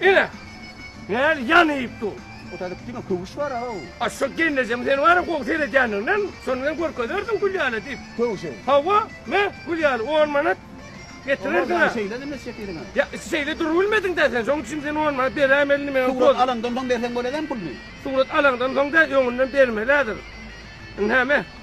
Ine, näl ýanyp dur. O taýda diňe köwüş bar aw. A şo gelnejem seni wara gowy seredýändiginden, şony men görkezerdim Gülýara diýip. Köwüşi? Hawa, me, Gülýara, on manat getirersiň-ä. Olar şeýle däl mesje etýädiň-ä. Ýa, şeýle durubilmediň-dä sen, şonuň üçin sen on manat beräýmeli meň. Surat alaňdan soň berseň bolar-dämi puluny? Surat alaňdan soň däl, öňünden bermeli-häzir. Ine, me.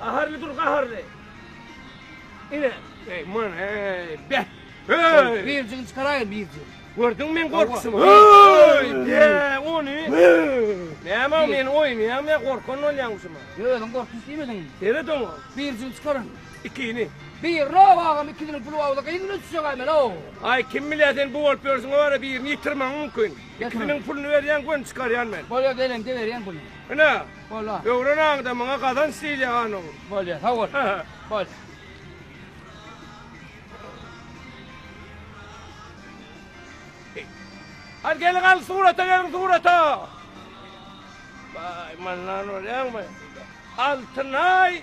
Gaharly dur gaharly. Ine. Ey man ey be. Hey. Birjigini çykaraýyn birji. Gördüň men gorkuşum. Hey be ony. Näme men oýnaýam ya gorkan bolýaňmyşym. Yo özüň gorkup diýmediň. Seret oňa. Birjigini çykaryn. Ikini. Bir row agam ikisini pul awda gynyna düşjek aý men ow. Aý kim bilýä sen bu bolup ýörsiň wara birini ýitirmegiň mümkin. Ikisiniň puluny berýäň göni çykarýan men. Bolýa gelen de berýän puluny. Ine. Bola. Öwrenaňda maňa gazanç diýilýär hanyň. Bolýa sag bol. Bol. Hadi gelin al surata gelin surata. Bay mannan oraya mı? Altınay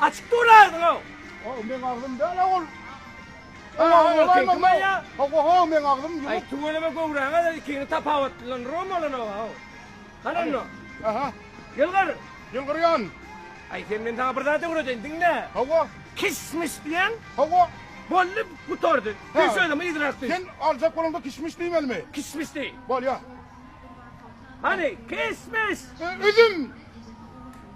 Açyk dur agzyňy. O meň agzym däl ol. Oho meň agzym ýumuk. Aý tüweleme göwräňe de ikini tapawutlandyram olana haw. Hany onda. Aha. Ýylgyr. Ýylgyrýan. Aý sen men saňa bir zat öwredeýin diňle. Hawa. Kişmiş diýen. Hawa. Boldy gutardy. Sen sözüme yzyrak düş. Sen aljak bolanda kişmiş diýmelimi? Kişmiş diý. Bolýa. Hany kişmiş. Üzüm.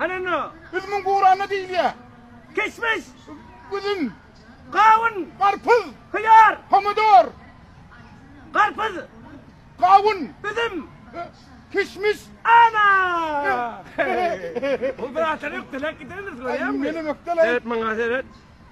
Anana. Üzümiň gurana diýilýär. Kişmiş. Üzüm. Gawun. Garpyz. Hyýar. Pomidor. Garpyz. Gawun. Üzüm. Kişmiş. Ana! Bu bir aşyr ökdelek gidendir, görýäňmi? Meni ökdelek. Seret maňa, seret.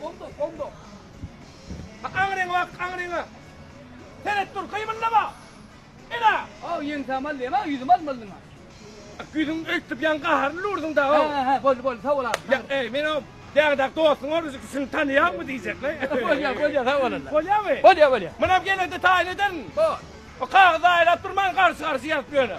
Bomba, bomba. Bak aňryňa bak, aňryňa. Seret dur, kymyldama. Ela. Aw, ýeňsäm aldy, ema ýüzüm almalyň. Ýüzüň öýtüp ýan gaharly lurduň da. Ha, ha, bol, bol, sag bol. Ýa, eý, men o Dagdag dostuň ol bizi şuny tanýarmy diýjekle. Bolýa, bolýa, sag bol. Bolýamy? Bolýa, bolýa. Munam gelende taýyn ederin. Bol. O kagyzy aýlap durman garşy-garşy ýazyp ýöne.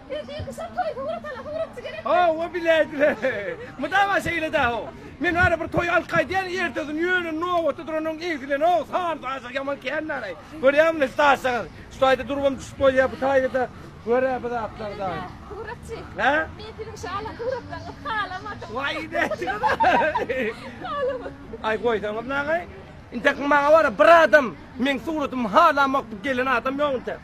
Hawa biläýdiler. Mydama şeýle da ho. Men ara bir toý alyp gaýdýan, ertesini ýöne nobatda duranyň egsilen ho, sany saýsak ýaman kän naraý. Görýäňmi ne saýsaňyz. Şu taýda durubam düşüp bolýar bu taýda görä bu zatlar da. Suratçy. Hä? Men siziň şala suratlaryňyzy halamadym. Waý näçe Halamadym. Aý goýsaňyz nagaý. Intek maňa wara bir adam meň suratymy halamak gelen adam ýok intek.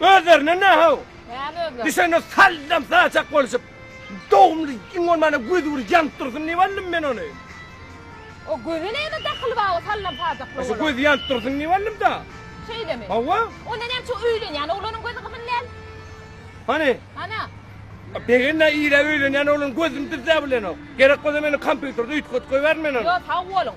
Özlerine ne hav? Näme özler? Düşende sallam saçak bolşup, dogumly iň bolmanda gözi bir ýanyp dursun diýip aldym men ony. O göze näme dahyly bar o sallam saçakly Aşa oglan? gözi ýanyp dursun diýip aldym da. Şeýlemi? Hawa. Onda näme üçin öýlenýän oglanyň gözi gyzyl däl? Hany? Hana? Begende ýere öýlenýän oglanyň gözüni düzläp bilenok. Gerek bolsa meniň kompýuterde üýtgetip goýbärin men ony. Ýok, sag boluň.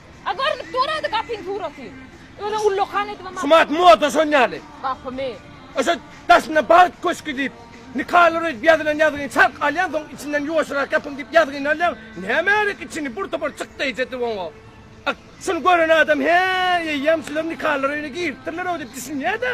A görnüp dur ady gapyň suraty. Özüň ullakan edip aman. Sumat moda şon ýaly. Gapymy. Oşo daşynda bagt köşki diýip nikalar edip ýazylan ýazgyny çark alýaň soň içinden ýuwaşyrak ýapyň diýip ýazgyny alýaň näme gerek içini bur topar çyk deýjä edip oňa. Ak şuny gören adam hä eýýäm şular nikalar öýüne giripdirler-ow diýip düşünýä-dä.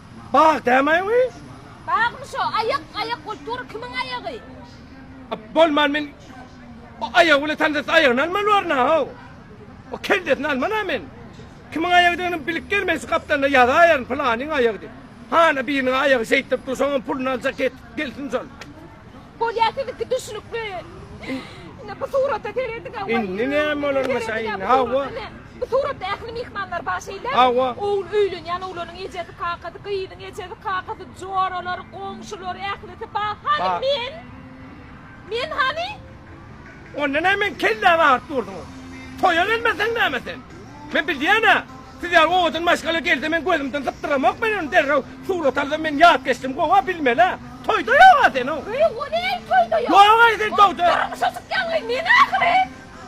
Bag dämaý wi. Bagmy şo aýak aýak bolup dur kimiň aýagy. Bolman men o aýagy bilen tanysas aýagyny almaly barna how. O kellesini almana men. Kimiň aýagydygyny bilip gelme şu gapdalda ýazaýaryn pylanyň aýagy dip. Hana biriniň aýagy şeýtdirip dur şoňam puluny aljak et gelsin şol. Bolýa siziňki düşnükli. Ine bu surata serediňä. Indi näme bolanmy şaýyny? Hawa. Bu suratda ähli myhmanlar bar şeýle. Hawa. Ogul öýlenýän oglanyň ejesi, kakasy, gyzyň ejesi, kakasy, joralar, goňşular ählisi bar. Hany men? Men hany? Onda näme men kelläňi agyryp durdyň? Toýa gelmeseň näme sen? Men bilýän-ä. Siz ýaly owadan maşgala gelse men gözümden sypdyramok men ony derrew surat alsam men ýat geçdim gowa bilmelä toýda ýoga sen o. Öýe o näme toýda ýok. Ýok aý sen toýda. Durmuşa çykýan gyz men ahyry.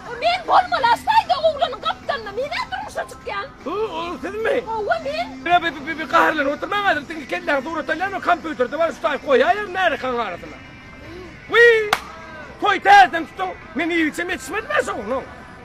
O men bolmaly aştaýda oglanyň gapdalynda menä durmuşa çykýan. Bu ol sizmi? Howwa men. Ýa bi bi bi gaharlanyp oturmaň häzir siziň kelläňi surat alýan o kompýuterde bar üstaýyp goýaýaryn märekäň arasyna. Wiý! Toý täzeden tutuň. Men ibiçem ýetişmedim ýaşaw onuň.